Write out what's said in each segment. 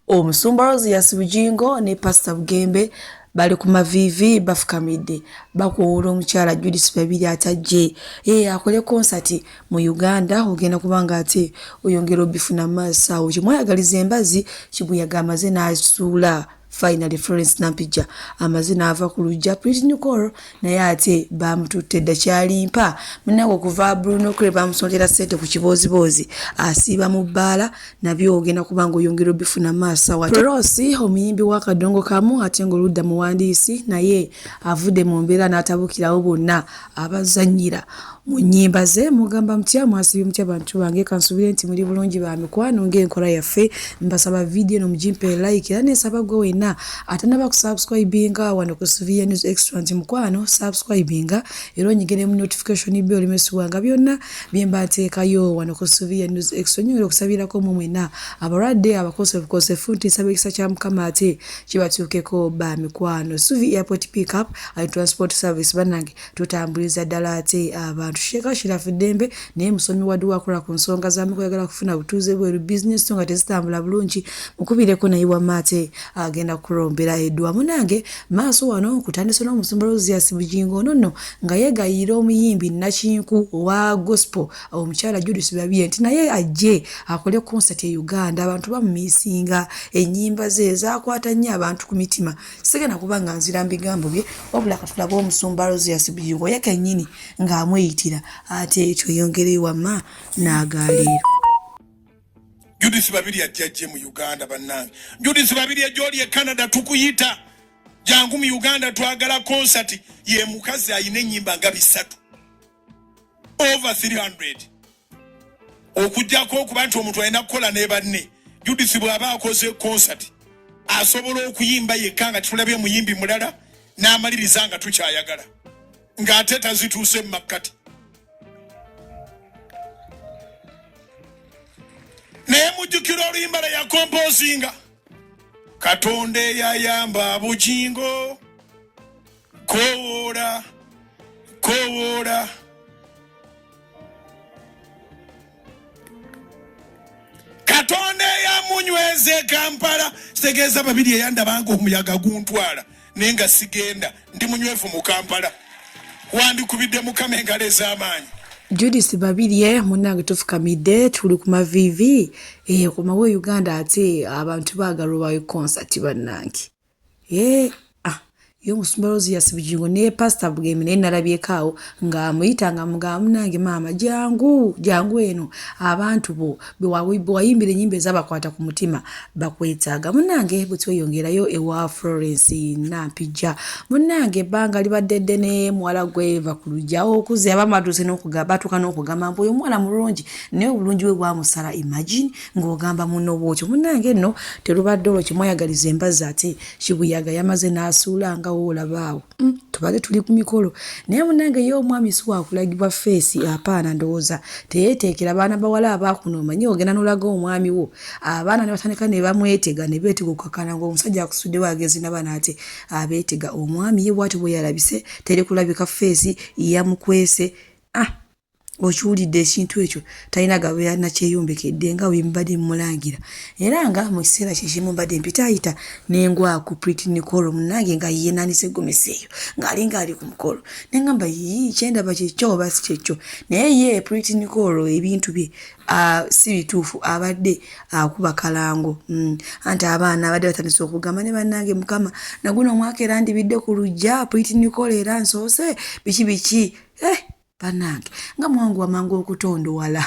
omusumba rosias bugingo ne pasita bugembe bali ku maviivi bafukamidde bakuwuula omukyala judith babiri atajje ee akole konsati mu uganda ogenda kubanga ate oyongera obifuna maaso awo kimweyagaliza embazi kibuyaga amaze n'asuula finally florence nampijja amaze n'ava ku lujja prit nicol naye ate baamututte dda kyali mpa munaga okuva bruno kre baamusondera ssente ku kibooziboozi asiiba mu bbaala nabyo ogenda kuba nga oyongera obifuna maasawarosi omuyimbi w'akadongo kamu ate ng'oludda muwandiisi naye avudde mu mbeera n'atabukirawo bonna abazanyira mu nnyimba ze mugamba mutya mwasibye mutya bantu bange kansubire nti muli bulungi ba mikwano ng'enkola yaffe mbasaba vidiyo eno mugimpe like era neesaba gwe wenna atanaba kusubscribinga wano ku sivia news extra nti mukwano subscribinga era onyigire mu notification be olimesibwanga byonna bye mba nteekayo wano ku sivia news extra nyongera okusabirako mu mwena abalwadde abakosefukosefu nti nsaba ekisa kya mukama ate kibatuukeko ba mikwano suvi airport pickup and transport service banange tutambuliza ddala ate abantu sheeka shirafu ddembe naye musomi wadi wakola ku nsonga zamukwagala kufuna butuuze bweru bizinesi nga tezitambula bulungi mukubireko naye wamma ate agenda kulombera edwa munange maaso wano kutandise n'omusumba rozias bugingo ono nno nga yegayiira omuyimbi nakinku owa gospel omukyala Judith Babirye nti naye ajje akole konsati e Uganda abantu bamumisinga ennyimba ze zaakwata nnyo abantu ku mitima sigenda kuba nga nzira mbigambo bye wabula katulaga omusumba Rosias Bujingo ye kennyini ng'amweyitira ate ekyo yongereyo wamma n'agaaliiro Judith Babirye ajja ajje mu Uganda bannange Judith Babirye gy'oli e Canada tukuyita jangu mu Uganda twagala konsati ye mukazi alina ennyimba nga bisatu over 300 okujjako okuba nti omuntu alina kukola ne banne judith bw'aba akoze konsati asobola okuyimba yekka nga titulabye muyimbi mulala n'amaliriza nga tukyayagala ng'ate tazituuse mu makkati naye mujjukira oluyimba lwe yakompozinga katonda eyayamba bugingo Kowoola, kowoola. Katonda eyamunyweza e Kampala kitegeeza babiri eyandabanga omuyaga guntwala naye nga sigenda ndi munywevu mu Kampala wandikubidde mukama engalo ez'amaanyi Judith Babirye munnange tufukamidde tuli ku maviivi eh, komawo e Uganda ate abantu baagala obawe konsati bannange Hey, eh, ah, yo musumba rozi yasibugingo ne pastor bugemi naye nalabyeko awo ng'amuyita nga mugamu nange maama jangu jangu eno abantu bo bewayimbira enyimba ezabakwata ku mutima bakwetaaga munange bwetweyongerayo ewa florence nampijja munange ebbanga libadde ddene muwala gweva ku lujja okuze abamatuuse batuuka n'okugamba mbu oyo omuwala mulungi naye obulungi bwe bwamusala imagine ng'ogamba muno bwotyo munange nno terubadde olwo kyemwayagaliza embazzi ate kibuyaga yamaze n'asuula nga woolaba awo mm, tubadde tuli ku mikolo naye munange ye omwami si wakulagibwa feesi apaana ndowooza teyeeteekera baana bawala abaakuno omanyi ogenda n'olaga omwami wo abaana ne batandika ne bamwetega ne beetega okukakana ng'omusajja akusudde waagezi naba naate abeetega omwami ye bwati bwe yalabise teri kulabika feesi yamukwese ah okiwulidde ekintu ekyo talina gabeera nakyeyombekedde nga wembadde mulangira era nga mu kiseera kyekimu mbadde mpitaayita nengwaku priti nicolo munange nga yenanise egomesi eyo ng'alinga ali ku mukolo nengamba yii kyendaba kyekyo oba si kyekyo naye ye priti nicolo ebintu bye si bituufu abadde akuba kalango mm. anti abaana abadde batandise okugamba ne bannange mukama naguno omwaka era ndibidde ku lujja priti nicolo era nsoose biki biki eh! banange nga mwangu wamangu okutondowala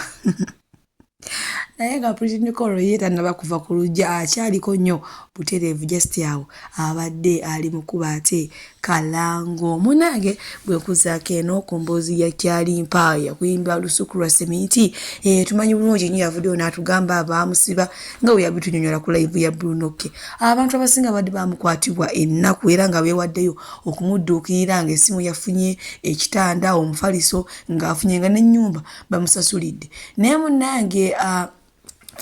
naye nga pritinikoro ye tanaba kuva ku lujja akyaliko nnyo butereevu just awo abadde ali mukuba ate kalango munange bwekuzaako eno ku mboozi ya kyalimpa yakuyimba lusuku lwa seminti eh, tumanyi bulungi nyo yavuddeyo n'atugamba abaamusiba nga bwe yabitunyonyola ku laivu ya brunoke abantu abasinga badde bamukwatibwa ennaku era nga beewaddeyo okumudduukirira ng'essimu yafunye ekitanda omufaliso ng'afunye nga n'ennyumba bamusasulidde naye munnange uh,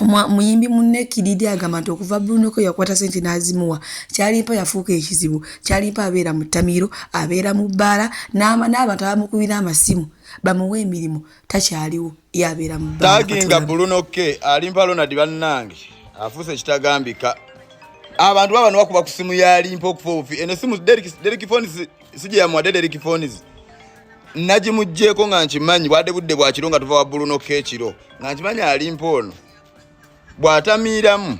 muyimbi munne kididi agamba nti okuva brunoko yakwata sente n'azimuwa kyalimpa yafuuka ekizibu kyalimpa abeera mu ttamiiro abeera mu bbaala n'abantu abamukubira amasimu bamuwa emirimu takyaliwo yabeera mu taginga buluno ke alimpa lonadi bannange afuuse ekitagambika abantu baba newakuba ku simu yalimpa okufa obufi eno esimu derikifoni sijeyamuwadde derikifoni nagimugyeko nga nkimanyi bwadde budde bwakiro nga tuva wa buluno ke ekiro nga nkimanyi alimpa ono bw'atamiiramu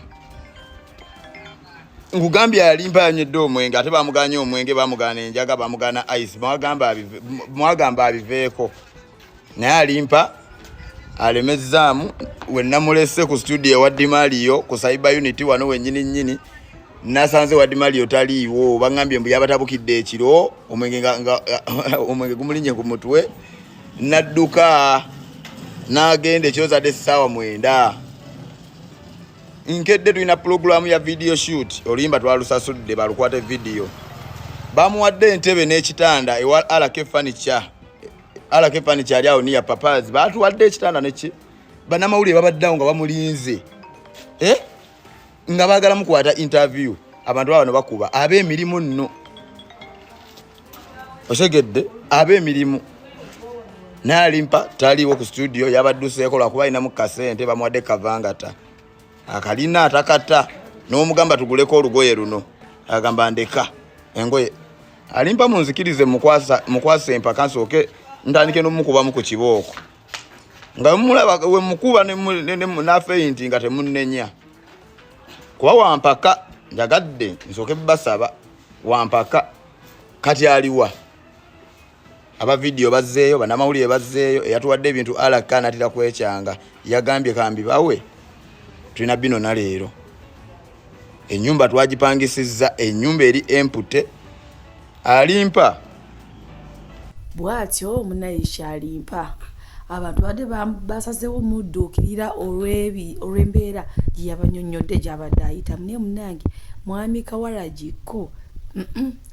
ngugambye yalimpa yanywedde omwenge ate bamuganye omwenge bamugana enjaga bamugana ice mwagamba abiveeko naye alimpa alemezzaamu wenamulese ku studio ewa dimaliyo ku cyber unity wano wenyini nyini nasanze wa dimaliyo taliiwo bangambye mbu yabatabukidde ekiro omwenge gumulinye ku mutwe nadduka n'agenda ekyozadde essaawa mwenda nkedde tulina pulogulaamu ya vidiyo shoot oluyimba twalusasudde balukwate vidiyo bamuwadde entebe n'ekitanda ewa alake fanica alake fanica ali awo niya papas batuwadde ekitanda neki banamawulire babaddeawo nga bamulinze eh? nga bagala mukwata interview abantu babano bakuba ab'emirimu nno osegedde ab'emirimu naye alimpa taliiwo ku studio yabadduseeko lwakuba alinamu kasente bamuwadde kavangata akalina atakata n'omugamba tuguleko olugoye luno agamba ndeka engoye alimpa munzikirize mukwasa empaka nsooke ntandike n'omukubamu ku kibooko nga mulaba wemukuba nafeinti nga temunenya kuba wampaka njagadde nsooke basaba wampaka kati aliwa aba vidiyo bazzeeyo banamawulire bazzeeyo eyatuwadde ebintu alaka anatira kwekyanga yagambye kambi bawe tulina bino naleero enyumba twagipangisizza enyumba eri empute alimpa bwatyo munayisha alimpa abantu badde basazewo mudduukirira olw'embeera gye yabanyonnyodde gy'abadde ayitamu naye munange mwami kawaragi ko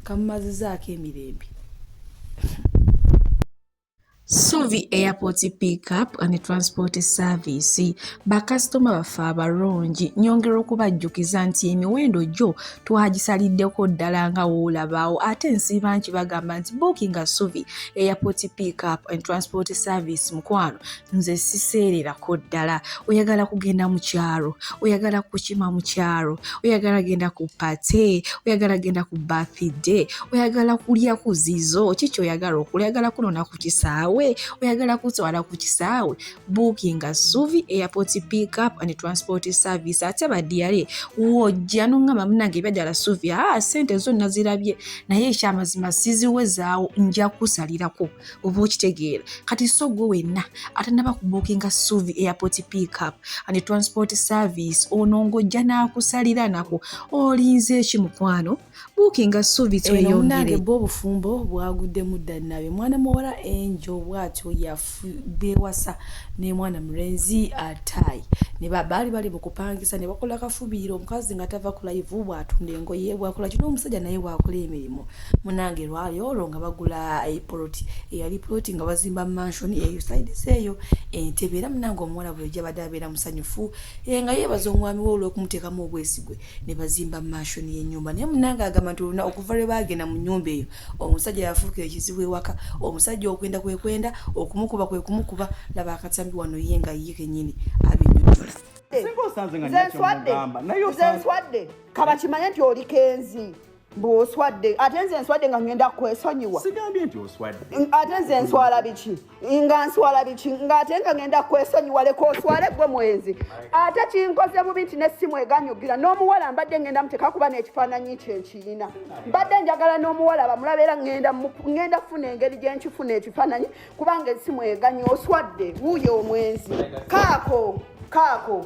kamumazizaako emirembe Suvi Airport Pickup and Transport Service bakasitoma baffe abalungi nyongera okubajjukiza nti emiwendo gyo twagisaliddeko ddala nga woolabaawo ate nsiiba nti bagamba nti bookinga Suvi Airport Pickup and Transport Service mukwano nze siseererako ddala oyagala kugenda mu kyalo oyagala kukima mu kyalo oyagala genda ku pate oyagala genda ku bathday oyagala kulya ku zizo kiki oyagala okula oyagala kunona ku kisaawe oyagala kutwala ku kisaawe bookinga suvi airport pick up and transport service ate badiyale wojja noŋama munange ebyadala suvi aa ah, sente zonna zirabye naye ekyamazima siziwezaawo nja kusalirako oba okitegeera kati so gwe wenna atanaba kubukinga suvi airport pickup and transport service ono ng'ojja n'akusalira nako olinze eki mukwano bukinga suvi tweyongere bwe obufumbo bwaguddemu ddanabe mwana muwala enjo bwatyo yabewasa nemwana mulenzi ataayi nebabaali bali mukupangisa nebakola kafubiiro omukazi nga tava kulayivu bwatunda engoye bwakola kino omusajja naye bwakola emirimu munange lwali olwo nga bagula epoloti eyali poloti nga bazimba mansion eyo sides eyo entebe era munange omuwala bwe yajabadde abeera musanyufu e, nga yeebaza omwami we olw'okumuteekamu obwesigwe ne bazimba mansion y'ennyumba naye munange agamba nti oluna okuva lwe baagenda mu nnyumba eyo omusajja yafuuka ekizibu ewaka omusajja okwenda kwe kwenda okumukuba kwe kumukuba laba akatambi wano ye nga ye kenyini abinyonyola nze nswadde nze nswadde kaba kimanye nti oli kenzi bwoswadde ate nze nswadde nga ngenda kwesonyiwa sigambye nti oswadde ate nze nswala biki nga nswala biki nga ate nga ngenda kwesonyiwa leka oswale gwe mwenzi ate kinkoze bubi nti nesimu eganyugira n'omuwala mbadde ngenda muteka kuba n'ekifaananyi kye nkiyina mbadde njagala n'omuwala bamulaba era ngenda kufuna engeri gye nkifuna ekifaananyi kubanga esimu eganyi oswadde wuuyo omwenzi kaako kaako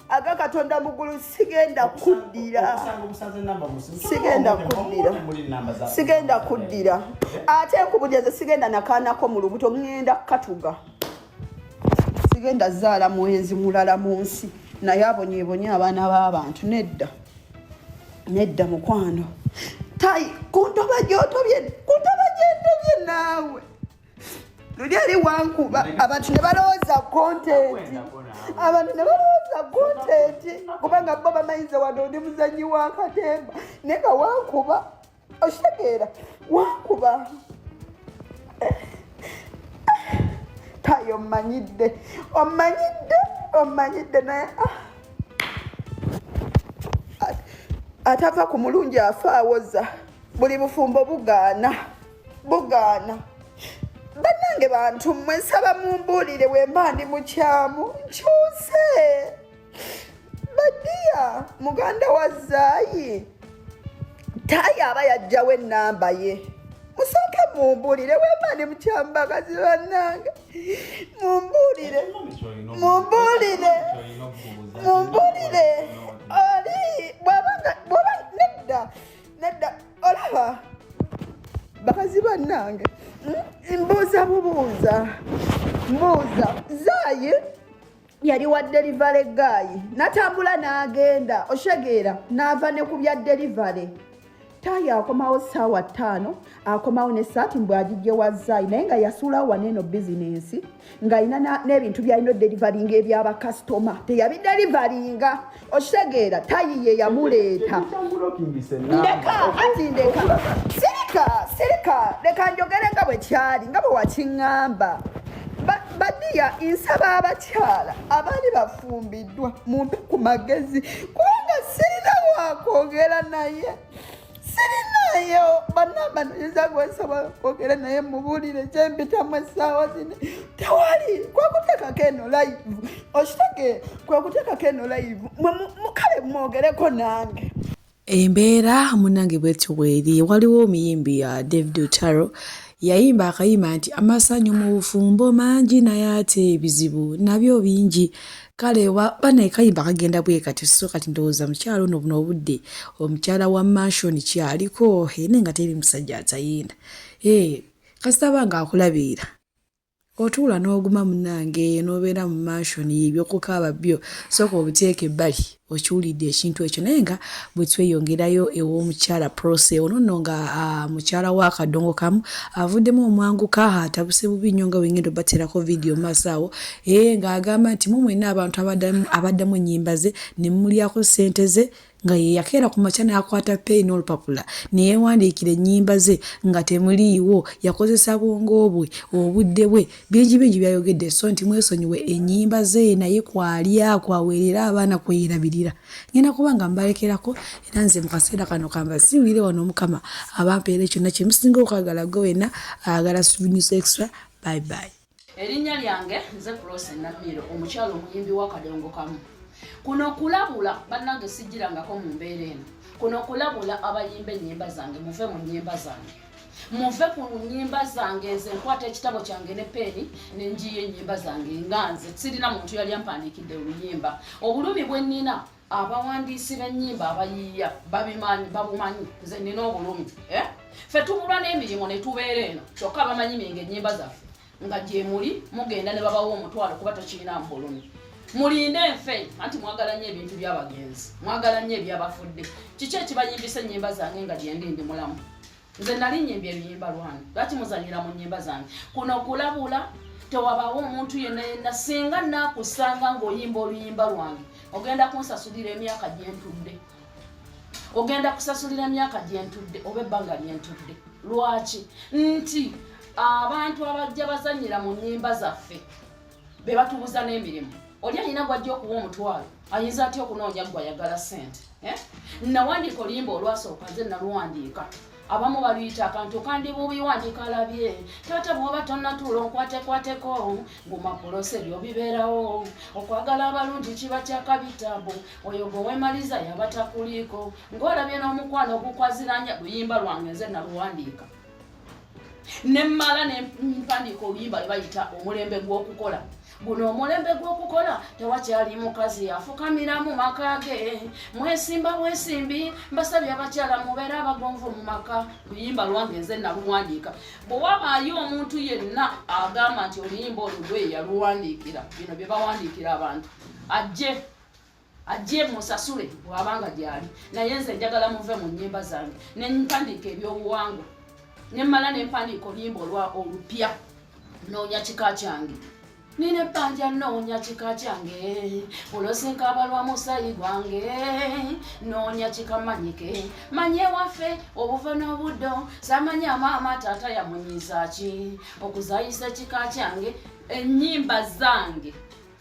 aga katonda mugulu sigenda kuddira sigenda kuddira sigenda kuddira ate nkubujaze sigenda nakaanako mu lubuto ŋenda kukatuga sigenda zaala mwenzi mulala mu nsi naye abonyebonye abaana b'abantu nedda nedda mukwano tai kuntoba gyotobye kuntoba gyentobye naawe luli eri wankuba abantu ne balowooza kontenti abantu ne balowooza kontenti kubanga bo bamanyiza wade oli muzanyi wa katemba naye nga wankuba okitegeera wankuba tayo omanyidde omanyidde omanyidde naye ah. atava ku mulungi afa awoza buli bufumbo bugaana bugaana bannange bantu mmwe nsaba mumbuulire wemba ndi mukyamu nkyuse badiya muganda wa zaayi tayi aba yajjawo ennamba ye musooke mumbuulire wemba ndi mukyamu bakazi bannange mumbuulire mumbuulire mumbuulire oli bwaba nedda nedda olaba bakazi bannange hmm? mbuuza bubuuza mbuuza zaayi yali wa delivale gaayi natambula n'agenda oshegeera n'ava ne ku bya delivale tayi akomawo saawa ttaano akomawo ne saati mbwagijje wa zaayi naye nga yasuulawo waneeno bizinensi ng'alina n'ebintu byalina oderivaringa ebyabakasitoma teyabiderivaringa okitegeera tayi ye yamuleeta ndeka ati ndeka sirika sirika leka njogere nga bwe kyali nga bwe wakiŋŋamba badiya nsaba abakyala abaali bafumbiddwa mumpe ku magezi kubanga sirina wakwogera naye sirinayo banamba nayinza gwensobola okwogera naye mubuulire kyempitamu essaawa zino tewali kwekuteekako eno live okitege kwekuteekako eno live mukale mwogereko nange embeera munange bwetyo bweri waliwo omuyimbi ya uh, david otaro yayimba akayimba nti amasanyu mu bufumbo mangi naye ate ebizibu nabyo bingi kale bana ekayimba kagenda bwe kati so kati ndowooza mukyalo ono buno obudde omukyala wa mansion kyaliko ene nga teri musajja atayinda ee kasitaba nga akulabiira otuula n'oguma munange n'obeera mu mansion yebyokukaaba byo sooka obuteeka ebbali okiwulidde ekintu ekyo naye nga bwe tweyongerayo ew'omukyala prose ono nno nga mukyala wa kadongo kamu avuddemu omwanguka atabuse bubi nnyo nga wengenda obaterako vidiyo maaso awo ee ng'agamba nti mu mwenna abantu abaddamu ennyimba ze ne mumulyako ssente ze nga ye yakeera ku makya n'akwata peeyi n'olupapula ne yeewandiikira ennyimba ze nga temuliiwo yakozesa bwongo bwe obudde bwe bingi bingi byayogedde so nti mwesonyiwe enyimba ze naye kwalya kwaweerera abaana kweyerabirira ngenda kuba nga mbalekerako era nze mu kaseera kano kamba siwire wano omukama abampeere kyonna kyemusinga okwagala gwe wena ayagala suvinis extra bye bye erinnya lyange nze kulose namiiro omukyalo omuyimbi wakadongo kamu kuno kulabula bannange sijjirangako mu mbeera eno kuno kulabula abayimba ennyimba zange muve mu nnyimba zange muve ku nyimba zange nze nkwata ekitabo kyange ne peeni nenjiyo enyimba zange nga nze sirina muntu yali ampandiikidde oluyimba obulumi bwenina abawandiisi b'ennyimba abayiiya babimanyi babumanyi nze nina obulumi eh? fe tubulwa n'emirimu ne tubeera eno kyokka bamanyi minga ennyimba zaffe nga gyemuli mugenda ne babawa omutwalo kuba tokirina mpulumi mulinde enfe anti mwagala nnyo ebintu byabagenzi mwagala nnyo ebyabafudde kiki ekibayimbisa ennyimba zange nga gyendi ndi mulamu nze nali nyimba ebiyimba lwange lwaki muzanyira mu nyimba zange kuno kulabula tewabawo omuntu yenna yenna singa nakusanga ngaoyimba oluyimba lwange ogenda kunsasulira emyaka gyentudde ogenda kusasulira emyaka gyentudde oba ebbanga lyentudde lwaki nti abantu abajja bazanyira mu nyimba zaffe be batubuza n'emirimu oli alina gwajja okuwa omutwalo ayinza atya okunoonya gwayagala sente eh? nawandiika oluyimba olwasooka nze naluwandiika abamu baluyita akantu kandi bubi wandiika alabye taata bwoba tonatuula onkwatekwateko ngumapulose byo bibeerawo okwagala abalungi kiba kyakabitabu oyo gwewemaliza yaba takuliiko ng'olabye n'omukwano ogukwaziranya luyimba lwange nze naluwandiika ne mmala ne mpandiika oluyimba lwe bayita omulembe gw'okukola guno omulembe gw'okukola tewakyali mukazi afukamira mu maka ge mwesimba bwesimbi mbasabye abakyala mubeera abagonvu mu maka luyimba lwange nze naluwandiika bwe wabaayo omuntu yenna agamba nti oluyimba olugwe yaluwandiikira bino bye bawandiikira abantu ajje ajje musasule wabanga gyali naye nze njagala muve mu nyimba zange ne mpandiika ebyobuwangwa ne mmala ne mpandiika oluyimba olwa olupya noonya kika kyange nina ebbanja noonya kika kyange olosinka abalwa musayi gwange noonya kika manyike manye waffe obuva n'obuddo samanya maama taata yamunyizaaki okuzayisa ekika kyange ennyimba zange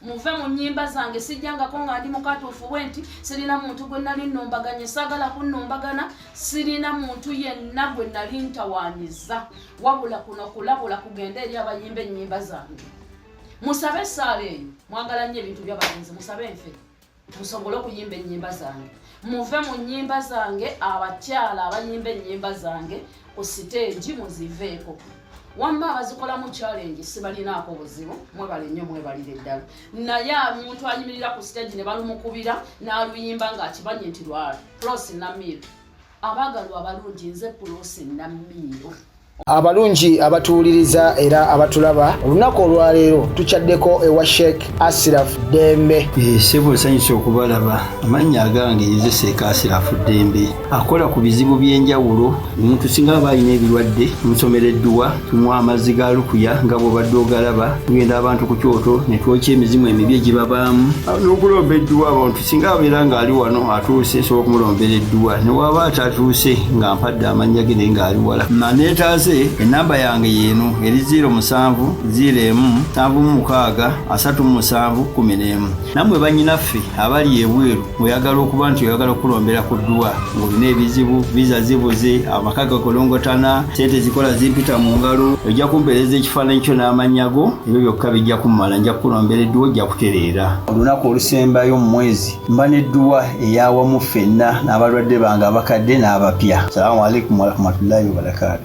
muve mu nnyimba zange sijjangako nga ndi mukatuufu bwe nti sirina muntu gwe nali nnumbaganye saagala kunnumbagana sirina muntu yenna gwe nali ntawaanyiza wabula kuno kulabula kugenda eri abayimba ennyimba zange musabe esaala eyo mwagala nnyo ebintu byabalenzi musabe nfe musobole okuyimba ennyimba zange muve mu nnyimba zange abakyala abayimba ennyimba zange ku siteegi muziveeko wamma abazikolamu challenge sibalinaako buzibu mwebale nnyo mwebalire ddala naye omuntu ayimirira ku siteegi ne balumukubira n'aluyimba ng'akimanyi nti lwa prosi namiru abagalwa abalungi nze pulosi namiiro abalungi abatuwuliriza era abatulaba olunaku olwaleero tukyaddeko ewa sheik asiraf dembe eh, sebo nsanyusa okubalaba amannya agange yezeseeka asiraf dembe akola ku bizibu by'enjawulo omuntu singa aba alina ebirwadde nsomera edduwa tunywa amazzi ga lukuya nga bwobadde ogalaba tugenda abantu ku kyoto ne twokya emizimu emibi egibabaamu n'okulomba edduwa abantu singa abeera ng'ali wano atuuse nsobola okumulombera edduwa ne waaba atatuuse nga mpadde amannya ge naye ng'ali wala maneetaaze ennamba yange yeeno eri 0 musanvu 0 emu nsanvu mu mukaaga asatu mu musanvu kkumi n'emu nammwe bannyinaffe abali ebweru oyagala okuba nti oyagala okukulombera ku dduwa ng'olina ebizibu viza zibuze amaka gakolongotana sente zikola zimpita mu ngalo ojja kumpeereza ekifaananyi kyo n'amannya go ebyo byokka bijja kummala nja kukulombera edduwa ojja kutereera olunaku olusembayo mu mwezi mba n'edduwa eyawamu ffenna n'abalwadde bange abakadde n'abapya salamu alaikum warahmatullahi wabarakaatu